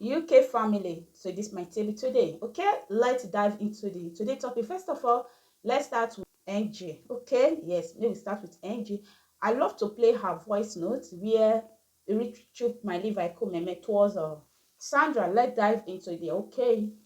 UK family so this my table today okay let's dive into the today topic first of all let's start with Angie okay yes let me start with Angie I love to play her voice note where Richard my Levi Kumeme towards uh, Sandra let's dive into the okay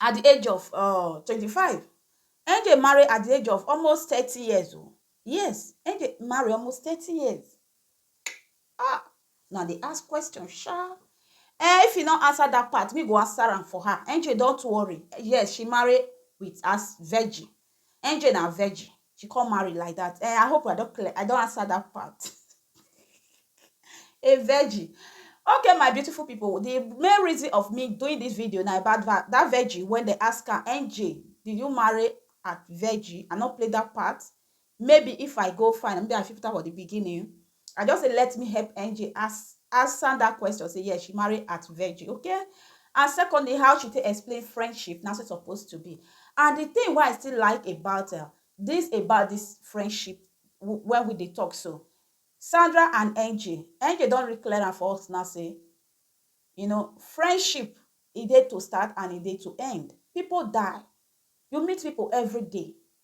at di age of um twenty five Ngg marry at di age of almost thirty years o yes Ngg marry almost thirty years ah una dey ask question sha um if you no answer dat part me go answer am for her Ngg don too worry yes she marry with as virgin NJ na virgin, she come marry like that. Eh, I hope I don clear, I don answer that part. a virgin. Okay, my beautiful people, the main reason of me doing this video now about that, that virgin when they ask her, NJ, did you marry at virgin? I not play that part. Maybe if I go find, maybe I fit put am for the beginning. I just say let me help Angie as answer that question say yes she marry at virgin okay and secondly how she take explain friendship na so it's supposed to be and the thing why i still like about uh, this about this friendship when we dey talk so sandra and angie angie don reclear am for us now say you know friendship e dey to start and e dey to end people die you meet people every day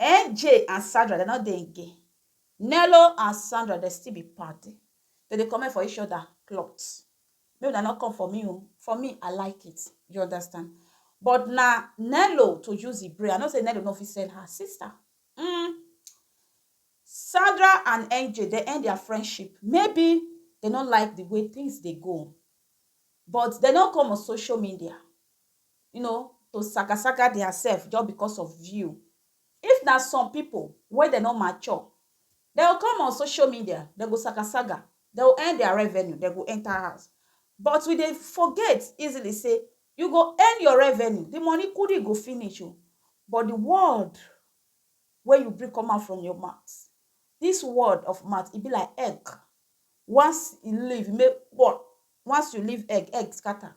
NJ and Sandra dem no dey again, Nello and Sandra dem still be paddy, dem dey comment for each other cloth, make una no come for me o, for me I like it you understand but na Nello to use the brain, I know say Nello no fit sell her sister uhmm, Sandra and NJ dem end their friendship maybe dem no like the way things dey go but dem no come on social media you know to saka saka dia sef just because of view. If na some pipu wey dem no mature, dem go come on social media, dem go saka saga, dem go earn dia revenue, dem go enter house. But we dey forget easily sey you go earn your revenue, de money kudi go finish o, but de word wey you bring come out from your mouth, dis word of mouth e be like egg, once e leave, e make kpon, once you leave egg, egg scatter.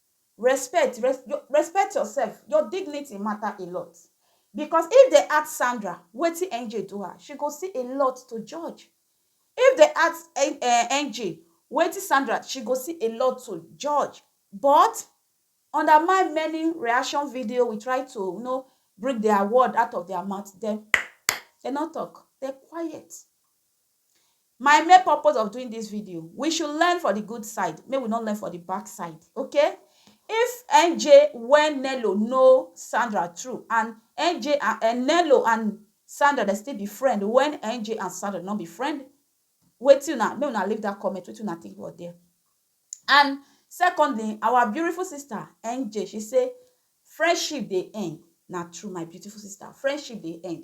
Respect, res yo respect yourself, your dignity matter a lot because if dem ask Sandra wetin NJ do her, she go see a lot to judge. If dem ask en eh NJ wetin Sandra, she go see a lot to judge but under my many reaction video we try to you know bring their word out of their mouth dem dem no talk, dem quiet. my main purpose of doing this video we should learn for the good side make we not learn for the back side okay if nj when nello know sandra true and nj and, uh, and nello and sandra they still be friend when nj and sandra not be friend wetin una make una leave that comment wetin una think about there and secondly our beautiful sister nj she say friendship dey end na true my beautiful sister friendship dey end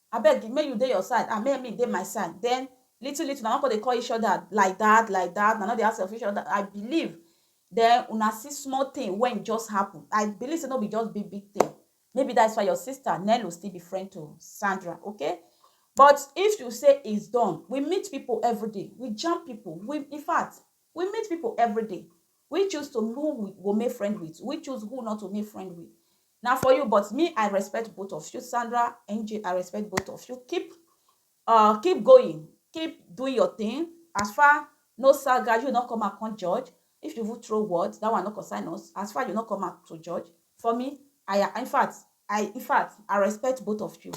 Abeg make you dey your side and make me dey my side then little little una don come dey call each other like that like that una no dey ask of each other I believe then una see small thing wen just happen I believe say no be just big big thing maybe that is why your sister Nello still be friend to Sandra okay but if you say is done we meet people everyday we jam people we infact We meet people everyday we choose to who we go make friend with we choose who not to make friend with na for you but me i respect both of you sandra nj i respect both of you keep uh, keep going keep doing your thing as far no saga you not come out come judge if you would throw words that one no concern us as far you not come out to judge for me i in fact i in fact i respect both of you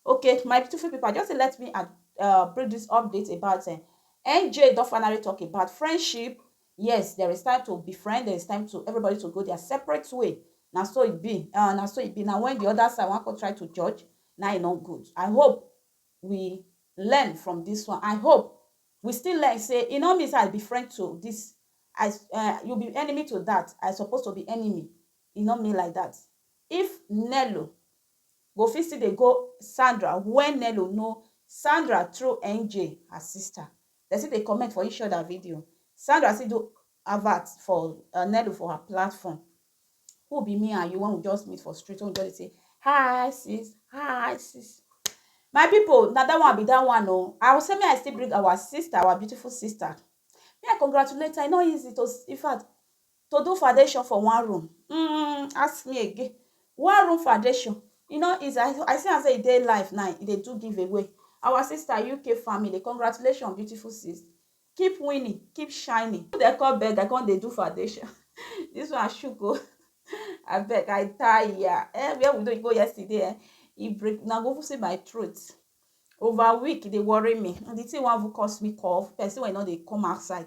Ok my beautiful people I just say let me add uh, bring this update about uh, NJ don finally talk about friendship. Yes, there is time to befriend, there is time to everybody to go their separate way. Now so it be. Uh, now so it be. Now when the other side want to try to judge, now it not good. I hope we learn from this one. I hope we still learn say you know me say I befriend to this I uh, you be enemy to that. I supposed to be enemy. You know me like that. If Nello go fit still dey go Sandra when Nello no Sandra through NJ her sister dem still dey comment for each other video Sandra still do advert for Nello for her platform who be me and you when we just meet for street when we just dey say hi sis hi sis my people na that one be that one o I will say me I still bring our sister our beautiful sister me I congratulate her e no easy to in fact to do foundation for one room um ask me again one room foundation e no easy i i see am say e dey life now e dey do give away our sister uk family congratulations beautiful sis keep winning keep shining who dey call beggar come dey do foundation this one shook o abeg i tire eh where we don go yesterday eh e break na go see my throat over week e dey worry me and the thing wan even cause me cough person wey no dey come outside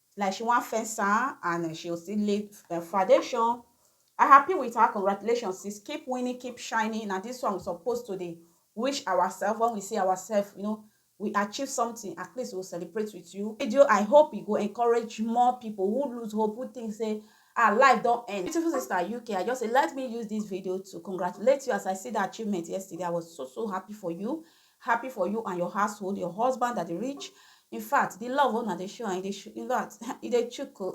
like she wan fence am and eh, she go still lay eh, foundation I happy with her congratulations sis keep winning keep shining na this one we suppose to dey wish ourselves when we see ourselves you know we achieve something at least we celebrate with you video I hope e go encourage more people who lose hope who think say our life don't end. Beautiful sister UK, I just say let me use this video to congratulate you as I see the achievement yesterday. I was so so happy for you. Happy for you and your household, your husband that dey rich. In fact, the love wey una dey show and e dey show, in fact, e dey chook o.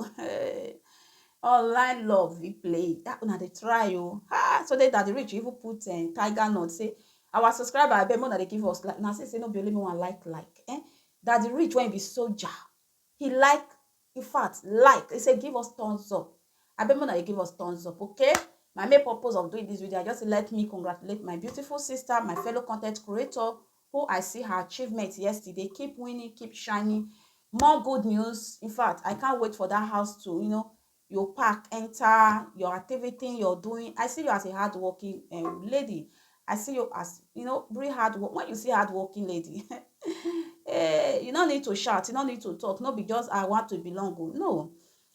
Online love we play, that una dey try o. Ah, so they that dey rich even put um, tiger nut say, our subscriber abeg make una dey give us like, una see say no be only me wan like like. Eh, that the rich when e be soldier, He like in fact like he say give us thumbs up I bet una dey give us thumbs up okay my main purpose of doing this video I just say let me congratulate my beautiful sister my fellow content creator who I see her achievement yesterday keep winning keep shining more good news in fact I can't wait for that house to you know your pack enter your activity you're doing i see you as a hardworking um, lady i see you as you know very hard work when you see hardworking lady eh, you no need to shout you no need to talk no be just i want to belong oh, no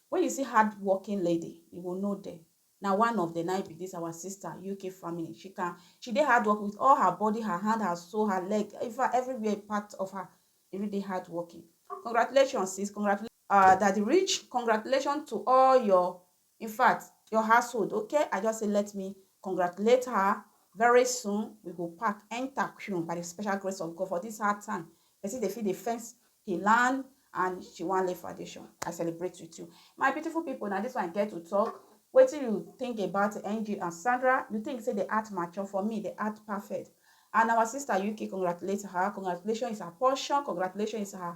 when you see hardworking lady you will know them na one of the nine be this our sister uk family she can she dey hard work with all her body her hand her soul her leg in fact everywhere part of her e really dey hard working congratulations sis congratulations. Ahh daddy rich congratulations to all your infact your household okay i just say let me congratulate her very soon we go pack enter queue by the special grace of God for this hard time person dey fit dey fence he land and she wan lay foundation i celebrate with you my beautiful people na this one i get to talk wetin you think about ng and sandra you think say the art mature for me the art perfect and our sister uk congratulate her congratulations is her portion congratulations is her